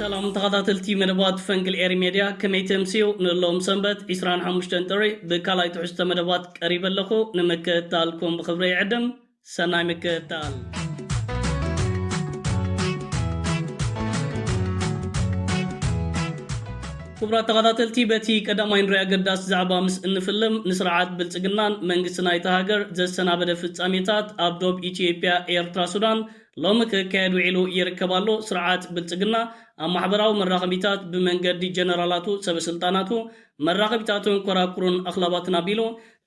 ሰላም ተኸታተልቲ መደባት ፈንቅል ኤሪ ሜድያ ከመይ ተምስዩ ንሎም ሰንበት ዕስራን ሓሙሽተን ጥሪ ብካልኣይ ትሕዝቶ መደባት ቀሪበ ኣለኹ ንምክትታልኩም ብኽብሪ ይዕድም ሰናይ ምክትታል ክቡራት ተኸታተልቲ በቲ ቀዳማይ ንሪኦ ኣገዳሲ ዛዕባ ምስ እንፍልም ንስርዓት ብልፅግናን መንግስቲ ናይታ ሃገር ዘሰናበደ ፍፃሜታት ኣብ ዶብ ኢትዮጵያ ኤርትራ ሱዳን ሎሚ ክካየድ ውዒሉ ይርከብ ኣሎ። ስርዓት ብልፅግና ኣብ ማሕበራዊ መራኸቢታት ብመንገዲ ጀነራላቱ ሰበስልጣናቱ መራኸቢታቱን ኮራኩሩን ኣኽላባትን ኣቢሉ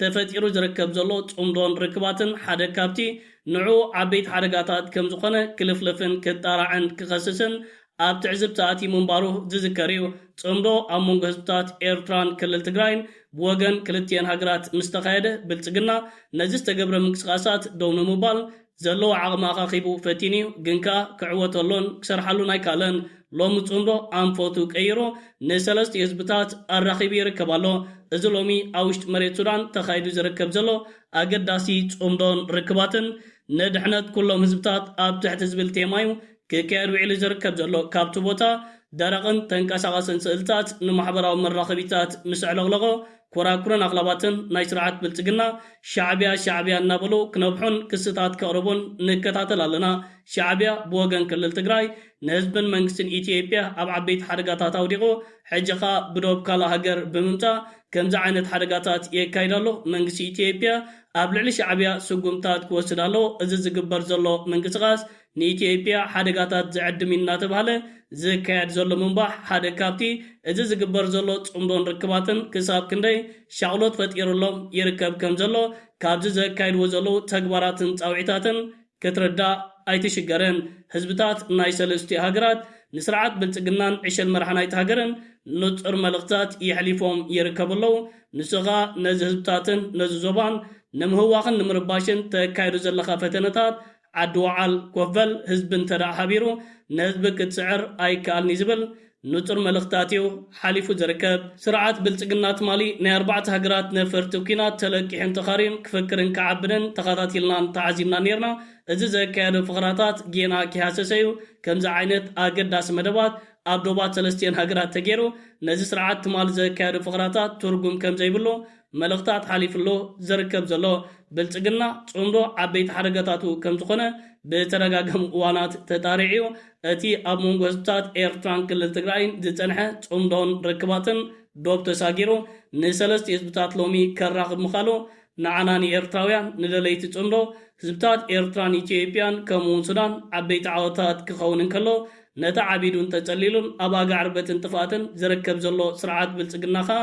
ተፈጢሩ ዝርከብ ዘሎ ፅምዶን ርክባትን ሓደ ካብቲ ንዕኡ ዓበይቲ ሓደጋታት ከምዝኾነ ክልፍልፍን ክጣራዕን ክኸስስን ኣብ ትዕዝብቲ ኣትዩ ምንባሩ ዝዝከር እዩ። ጽምዶ ኣብ መንጎ ህዝብታት ኤርትራን ክልል ትግራይን ብወገን ክልቲኤን ሃገራት ምስ ተኻየደ፣ ብልጽግና ነዚ ዝተገብረ ምንቅስቓሳት ደው ንምባል ዘለዎ ዓቕሚ ኣኻኺቡ ፈቲኑ እዩ፣ ግን ከኣ ክዕወተሎን ክሰርሓሉን ኣይከኣለን። ሎሚ ጽምዶ ኣንፈቱ ቀይሩ ንሰለስቲኡ ህዝብታት ኣራኺቡ ይርከብ ኣሎ። እዚ ሎሚ ኣብ ውሽጢ መሬት ሱዳን ተኻይዱ ዝርከብ ዘሎ ኣገዳሲ ጽምዶን ርክባትን፣ ንድሕነት ኩሎም ህዝብታት ኣብ ትሕቲ ዝብል ቴማ እዩ ክካየድ ውዒሉ ዝርከብ ዘሎ ካብቲ ቦታ ደረቕን ተንቀሳቐስን ስእልታት ንማሕበራዊ መራኸቢታት ምስ ኣዕለቕለቖ ኮራኩርን ኣኽላባትን ናይ ስርዓት ብልጽግና ሻዕቢያ ሻዕቢያ እናበሉ ክነብሑን ክስታት ከቕርቡን ንከታተል ኣለና ሻዕቢያ ብወገን ክልል ትግራይ ንህዝብን መንግስትን ኢትዬጵያ ኣብ ዓበይቲ ሓደጋታት ኣውዲቑ ሕጂ ኸኣ ብዶብ ካልእ ሃገር ብምምጻእ ከምዚ ዓይነት ሓደጋታት የካይድ ኣሎ መንግስቲ ኢትዬጵያ ኣብ ልዕሊ ሻዕቢያ ስጉምታት ክወስድ ኣለዎ እዚ ዝግበር ዘሎ ምንቅስቓስ ንኢትዮጵያ ሓደጋታት ዝዕድም'ዩ እናተብሃለ ዝካየድ ዘሎ ምንባሕ ሓደ ካብቲ እዚ ዝግበር ዘሎ ጽምዶን ርክባትን ክሳብ ክንደይ ሻቕሎት ፈጢሩሎም ይርከብ ከም ዘሎ ካብዚ ዘካይድዎ ዘለዉ ተግባራትን ጻውዒታትን ክትርዳእ ኣይትሽገርን። ህዝብታት ናይ ሰለስቲኡ ሃገራት ንስርዓት ብልጽግናን ዕሸል መራሒ ናይቲ ሃገርን ንጹር መልእኽትታት የሕሊፎም ይርከቡ ኣለዉ። ንሱ ከኣ ነዚ ህዝብታትን ነዚ ዞባን ንምህዋኽን ንምርባሽን ተካይዶ ዘለኻ ፈተነታት ዓዲ ወዓል ኮፍ በል ህዝቢ እንተ ሓቢሩ ንህዝቢ ክትስዕር ኣይከኣልን እዩ ዝብል ንጹር መልእኽታት እዩ ሓሊፉ ዝርከብ። ስርዓት ብልጽግና ትማሊ ናይ ኣርባዕተ ሃገራት ነፈርቲ ኩናት ተለቂሑን ተኻርዩን ክፍክርን ክዓብንን ተኻታቲልናን ተዓዚብናን ኔርና። እዚ ዘካየዶ ፈኸራታት ጌና ኪሃሰሰ እዩ። ከምዚ ዓይነት ኣገዳሲ መደባት ኣብ ዶባት ሰለስቲኤን ሃገራት ተጌሩ ነዚ ስርዓት ትማሊ ዘካየዶ ፈኸራታት ትርጉም ከምዘይብሉ መልእኽታት ሓሊፍሉ ዝርከብ ዘሎ ብልጽግና ጽምዶ ዓበይቲ ሓደጋታቱ ከምዝኾነ ብተደጋጋሚ እዋናት ተጣሪዑ'ዩ። እቲ ኣብ መንጎ ህዝብታት ኤርትራን ክልል ትግራይን ዝጸንሐ ጽምዶን ርክባትን ዶብ ተሳጊሩ ንሰለስቲኡ ህዝብታት ሎሚ ከራኽብ ምኻሉ ንዓና ንኤርትራውያን ንደለይቲ ጽምዶ ህዝብታት ኤርትራን ኢትዮጵያን ከምኡ'ውን ሱዳን ዓበይቲ ዓወታት ክኸውን እንከሎ ነቲ ዓቢዱን ተጸሊሉን ኣብ ኣጋዕርበትን ጥፍኣትን ዝርከብ ዘሎ ስርዓት ብልጽግና ከኣ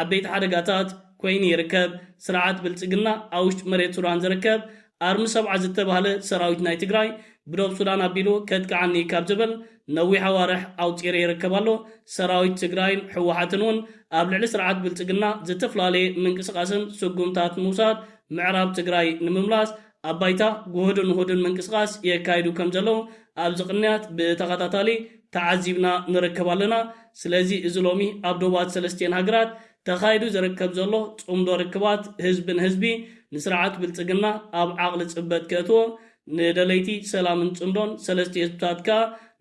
ዓበይቲ ሓደጋታት ኮይኑ ይርከብ። ስርዓት ብልፅግና ኣብ ውሽጢ መሬት ሱዳን ዝርከብ ኣርሚ ሰብዓ ዝተባህለ ሰራዊት ናይ ትግራይ ብዶብ ሱዳን ኣቢሉ ከጥቅዓኒ እዩ ካብ ዝብል ነዊሕ ኣዋርሕ ኣውፂሪ ይርከብ ኣሎ። ሰራዊት ትግራይን ህወሓትን እውን ኣብ ልዕሊ ስርዓት ብልፅግና ዝተፍላለየ ምንቅስቃስን ስጉምታት ምውሳድ ምዕራብ ትግራይ ንምምላስ ኣብ ባይታ ጉሁድን ውሁድን ምንቅስቓስ የካይዱ ከም ዘለዉ ኣብዚ ቅንያት ብተኸታታሊ ተዓዚብና ንርከብ ኣለና። ስለዚ እዚ ሎሚ ኣብ ዶባት ሰለስቲኤን ሃገራት ተኻይዱ ዝርከብ ዘሎ ጽምዶ ርክባት ህዝቢ ንህዝቢ ንስርዓት ብልጽግና ኣብ ዓቕሊ ጽበት ከእትዎ ንደለይቲ ሰላምን ጽምዶን ሰለስቲኡ ህዝብታት ከኣ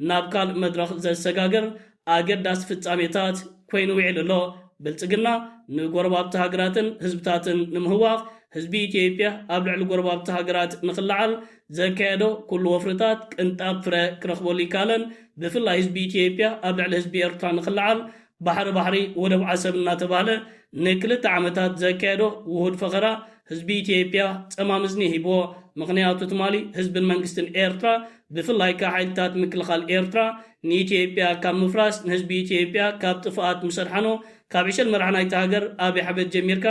ናብ ካልእ መድረኽ ዘሰጋግር ኣገዳሲ ፍጻሜታት ኮይኑ ዊዒሉ ኣሎ። ብልጽግና ንጎረባብቲ ሃገራትን ህዝብታትን ንምህዋኽ ህዝቢ ኢትዮጵያ ኣብ ልዕሊ ጎረባብቲ ሃገራት ንኽለዓል ዘካየዶ ኩሉ ወፍርታት ቅንጣብ ፍረ ክረኽበሉ ኣይከኣለን። ብፍላይ ህዝቢ ኢትዮጵያ ኣብ ልዕሊ ህዝቢ ኤርትራ ንኽለዓል ባሕሪ ባሕሪ ወደብ ዓሰብ እናተባህለ ንክልተ ዓመታት ዘካየዶ ውሁድ ፈኸራ ህዝቢ ኢትዮጵያ ጸማም እዝኒ ሂብዎ፣ ምኽንያቱ ትማሊ ህዝብን መንግስትን ኤርትራ ብፍላይ ከኣ ሓይልታት ምክልኻል ኤርትራ ንኢትዮጵያ ካብ ምፍራስ ንህዝቢ ኢትዮጵያ ካብ ጥፍኣት ምስ ኣድሓኖ ካብ ዕሸል መራሒ ናይታ ሃገር ኣብይ ኣሕመድ ጀሚርካ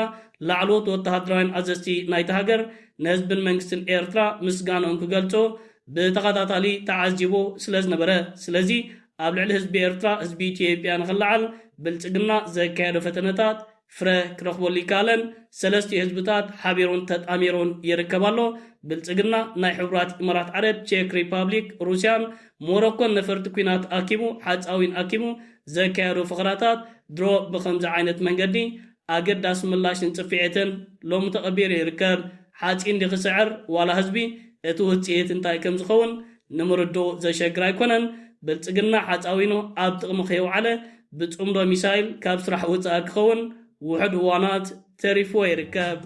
ላዕለዎት ወተሃደራውያን ኣዘዝቲ ናይታ ሃገር ንህዝብን መንግስትን ኤርትራ ምስጋንኦም ክገልጹ ብተኸታታሊ ተዓዚቡ ስለ ዝነበረ ስለዚ ኣብ ልዕሊ ህዝቢ ኤርትራ ህዝቢ ኢትዮጵያ ንኽለዓል ብልጽግና ዘካየዶ ፈተነታት ፍረ ክረኽበሉ ይከኣለን ሰለስቲኡ ህዝብታት ሓቢሩን ተጣሚሩን ይርከብ ኣሎ። ብልጽግና ናይ ሕቡራት ኢማራት ዓረብ፣ ቼክ ሪፓብሊክ፣ ሩስያን ሞሮኮን ነፈርቲ ኩናት ኣኪቡ ሓጻዊን ኣኪቡ ዘካየዶ ፈኸራታት ድሮ ብኸምዚ ዓይነት መንገዲ ኣገዳሲ ምላሽን ጽፊዒትን ሎሚ ተቐቢሩ ይርከብ። ሓጺን ድዩ ክስዕር ዋላ ህዝቢ እቲ ውጽኢት እንታይ ከም ዝኸውን ንምርድኡ ዘሸግር ኣይኮነን። ብልጽግና ሓጻዊኑ ኣብ ጥቕሚ ከየውዓለ ብጽምዶ ሚሳይል ካብ ስራሕ ወጻኢ ክኸውን ውሑድ እዋናት ተሪፍዎ ይርከብ።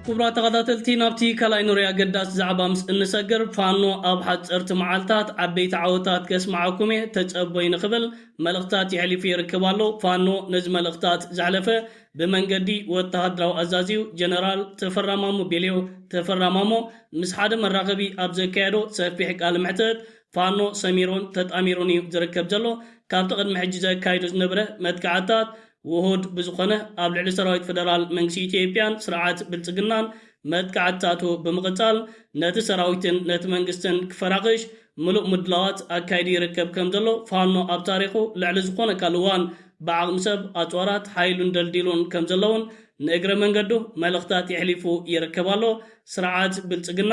ክቡራት ተኸታተልቲ ናብቲ ካልኣይ ንሪኦ ኣገዳሲ ዛዕባ ምስ እንሰግር ፋኖ ኣብ ሓፀርቲ መዓልታት ዓበይቲ ዓወታት ከስምዓኩም እየ ተፀቦይ ንክብል መልእኽታት የሕሊፉ ይርከብ ኣሎ። ፋኖ ነዚ መልእኽታት ዘሕለፈ ብመንገዲ ወተሃደራዊ ኣዛዚኡ ጀነራል ተፈራማሞ ቤልዮ ተፈራማሞ ምስ ሓደ መራኸቢ ኣብ ዘካየዶ ሰፊሕ ቃለ መሕተት፣ ፋኖ ሰሚሩን ተጣሚሩን እዩ ዝርከብ ዘሎ፣ ካብቲ ቅድሚ ሕጂ ዘካይዶ ዝነበረ መጥቃዕትታት ውሁድ ብዝኾነ ኣብ ልዕሊ ሰራዊት ፈደራል መንግስቲ ኢትዮጵያን ስርዓት ብልጽግናን መጥቃዕትታቱ ብምቕጻል ነቲ ሰራዊትን ነቲ መንግስትን ክፈራኽሽ ምሉእ ምድላዋት ኣካይዱ ይርከብ ከምዘሎ ፋኖ ኣብ ታሪኹ ልዕሊ ዝኾነ ካልእ እዋን ብዓቕሚ ሰብ፣ ኣጽዋራት፣ ሓይሉን ደልዲሉን ከምዘሎ'ውን ንእግረ መንገዱ መልእኽታት የሕሊፉ ይርከብ ኣሎ። ስርዓት ብልፅግና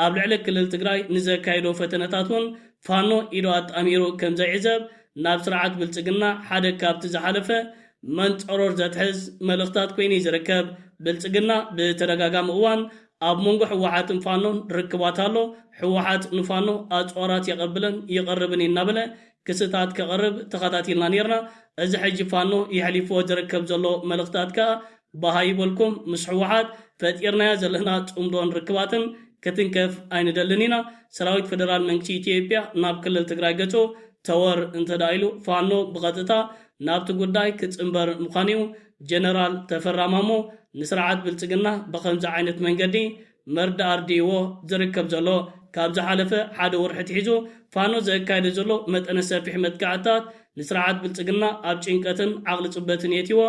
ኣብ ልዕሊ ክልል ትግራይ ንዘካይዶ ፈተነታት እውን ፋኖ ኢዱ ኣጣሚሩ ከምዘይዕዘብ ናብ ስርዓት ብልፅግና ሓደ ካብቲ ዝሓለፈ መንፀሮር ዘትሕዝ መልእኽታት ኮይኑ እዩ ዝርከብ። ብልፅግና ብተደጋጋሚ እዋን ኣብ መንጎ ህወሓትን ፋኖን ርክባት ኣሎ፣ ህወሓት ንፋኖ ኣፅዋራት የቐብልን ይቕርብን እዩ እናበለ ክስታት ከቕርብ ተኸታቲልና ነይርና፣ እዚ ሕጂ ፋኖ የሕሊፍዎ ዝርከብ ዘሎ መልእኽታት ከዓ ባሃ ይበልኩም ምስ ሕወሓት ፈጢርናዮ ዘለና ፅምዶን ርክባትን ክትንከፍ ኣይንደልን ኢና ሰራዊት ፈደራል መንግስቲ ኢትዮጵያ ናብ ክልል ትግራይ ገፁ ተወር እንተድኣ ኢሉ ፋኖ ብቐጥታ ናብቲ ጉዳይ ክፅምበር ምዃኑዩ ጀነራል ተፈራ ማሞ ንስርዓት ብልፅግና ብኸምዚ ዓይነት መንገዲ መርድእ ኣርዲእዎ ዝርከብ ዘሎ፣ ካብ ዝሓለፈ ሓደ ወርሒ ኣትሒዙ ፋኖ ዘካይዶ ዘሎ መጠነ ሰፊሕ መጥቃዕትታት ንስርዓት ብልጽግና ኣብ ጭንቀትን ዓቕሊ ጽበትን የእትይዎ፣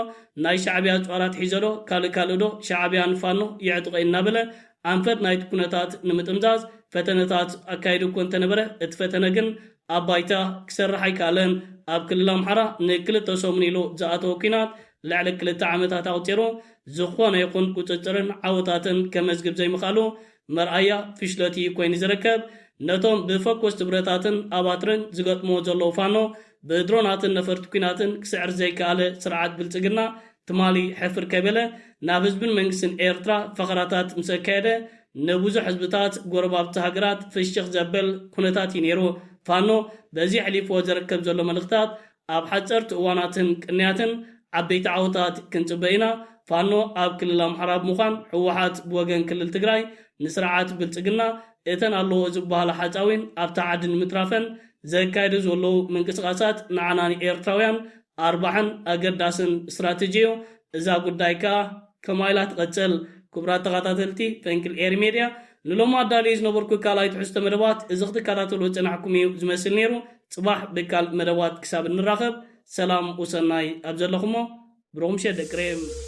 ናይ ሻዕብያ ጾር ኣትሒዘዶ ካልእ ካልእዶ ሻዕብያ ንፋኖ የዕጥቖ እናበለ ኣንፈት ናይቲ ኩነታት ንምጥምዛዝ ፈተነታት ኣካይዱ እኮ እንተነበረ እቲ ፈተነ ግን ኣብ ባይታ ክሰርሕ ኣይከኣለን። ኣብ ክልል ኣምሓራ ንክልተ ሰሙን ኢሉ ዝኣተወ ኲናት ልዕሊ ክልተ ዓመታት ኣቑጺሩ ዝኾነ ይኹን ቁጽጽርን ዓወታትን ከመዝግብ ዘይምኽኣሉ መርኣያ ፍሽለቱ እዩ ኮይኑ ዝርከብ። ነቶም ብፈኮስቲ ብረታትን ኣባትርን ዝገጥምዎ ዘለዉ ፋኖ ብድሮናትን ነፈርቲ ኲናትን ክስዕር ዘይከኣለ ስርዓት ብልጽግና፣ ትማሊ ሕፍር ከይበለ ናብ ህዝብን መንግስትን ኤርትራ ፈኸራታት ምስ ኣካየደ፣ ንብዙሕ ህዝብታት ጎረባብቲ ሃገራት ፍሽኽ ዘበል ኩነታት እዩ ነይሩ። ፋኖ በዚ ኣሕሊፍዎ ዘረከብ ዘሎ መልእኽታት ኣብ ሓጸርቲ እዋናትን ቅንያትን ዓበይቲ ዓወታት ክንጽበ ኢና፣ ፋኖ ኣብ ክልል ኣምሓራ ብምዃን ህወሓት ብወገን ክልል ትግራይ ንስርዓት ብልጽግና እተን ኣለዎ ዝበሃላ ሓጻዊን ኣብታ ዓዲ ንምትራፈን ዘካይዱ ዘለዉ ምንቅስቓሳት ንዓና ንኤርትራውያን ኣርባዕን ኣገዳስን ስትራተጂ እዩ እዛ ጉዳይ ከኣ ከማይ ኢላ ትቅጽል። ኩቡራት ተኻታተልቲ ፈንቅል ኤሪ ሜድያ ንሎሚ ኣዳልየዮ ዝነበርኩ ካልኣይ ትሕዝቶ መደባት እዚ ክትካታተልዎ ዝጸናሕኩም እዩ ዝመስል ኔሩ ጽባሕ ብካልእ መደባት ክሳብ እንራኸብ ሰላም ወሰናይ ኣብ ዘለኹሞ ብሩኽ ምሸት ደቂ ሬም።